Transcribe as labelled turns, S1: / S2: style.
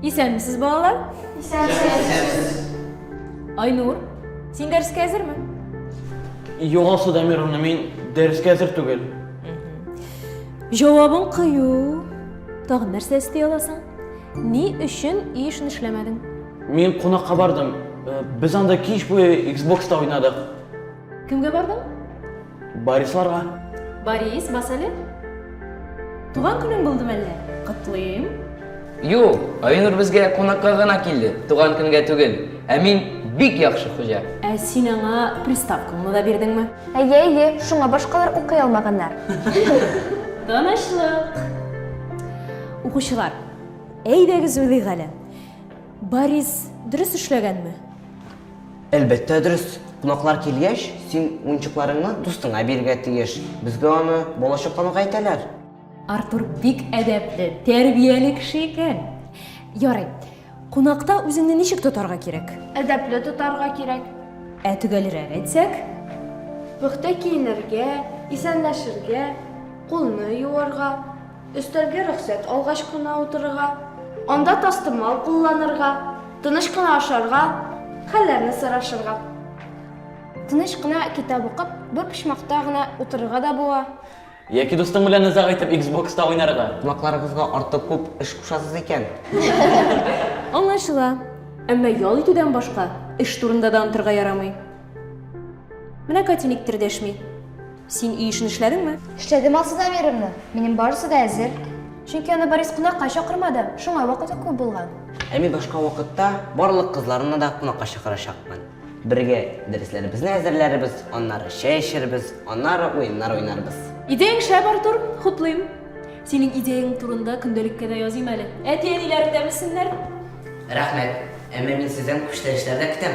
S1: Исәнмесез, балалар? Исәнмесез. Айнур, син дәрескә әзерме? Югасы Дамировна, мин дәрескә әзер түгел. Җавабың кыю. Тагын нәрсә эсти аласың? Ни өчен үй эшен эшләмәдең? Мин кунакка бардым. Э, без анда кич буе Xbox-та уйнадык. Кемгә бардың? Барисларга. Барис, бас әле. Туган көнең булды мәллә? Котлыйм. Юк, Айнур безгә кунакка гына килде, туган көнгә түгел. Ә мин бик яхшы хуҗа. Ә син аңа приставкаңны да бирдеңме? Әйе, әйе, шуңа башкалар укый алмаганнар. Тынычлык. Укучылар, әйдәгез уйлыйк әле. Барис дөрес эшләгәнме? Әлбәттә дөрес. Кунаклар килгәч, син уенчыкларыңны дустыңа бирергә тиеш. Безгә аны балачаклануга әйтәләр. Артур бик әдәпле, тәрбияле кеше икән. Ярый. Кунакта үзеңне ничек тотарга кирәк? Әдәпле тотарга кирәк. Ә төгәлрәк әйтсәк? Пөхтә киенергә, исәнләшергә, кулны юарга. Өстәлгә рөхсәт алгач кына утырырга, анда тастымал кулланырга, тыныч кына ашарга, хәлләрне сорашырга. Тыныч кына китап укып, бер почмакта гына утырырга да була. Яки дустың белән озак итеп Xbox-та уйнарга. Кунакларыгызга артык күп эш кушасыз икән. Аңлашыла. Әмма ял итүдән башка эш турында да онтырга ярамый. Менә Катя никтер дәшми. Син өй эшен эшләдеңме? Эшләдем, Алсу Замировна. Минем барысы да әзер. Чөнки аны Борис кунакка чакырмады, шуңа вакыты күп булган. Ә мин башка вакытта барлык кызларны да кунакка чакырачакмын. Бергә дәресләребезне әзерләрбез, аннары чәй эчербез, аннары уеннар уйнарбыз. Идеяң шәп, Артур, хуплыйм. Синең идеяң турында көндәлеккә дә языйм әле. Әти-әниләрең дә белсеннәр. Рәхмәт. Әмма мин сездән күчтәнәчләр дә көтәм.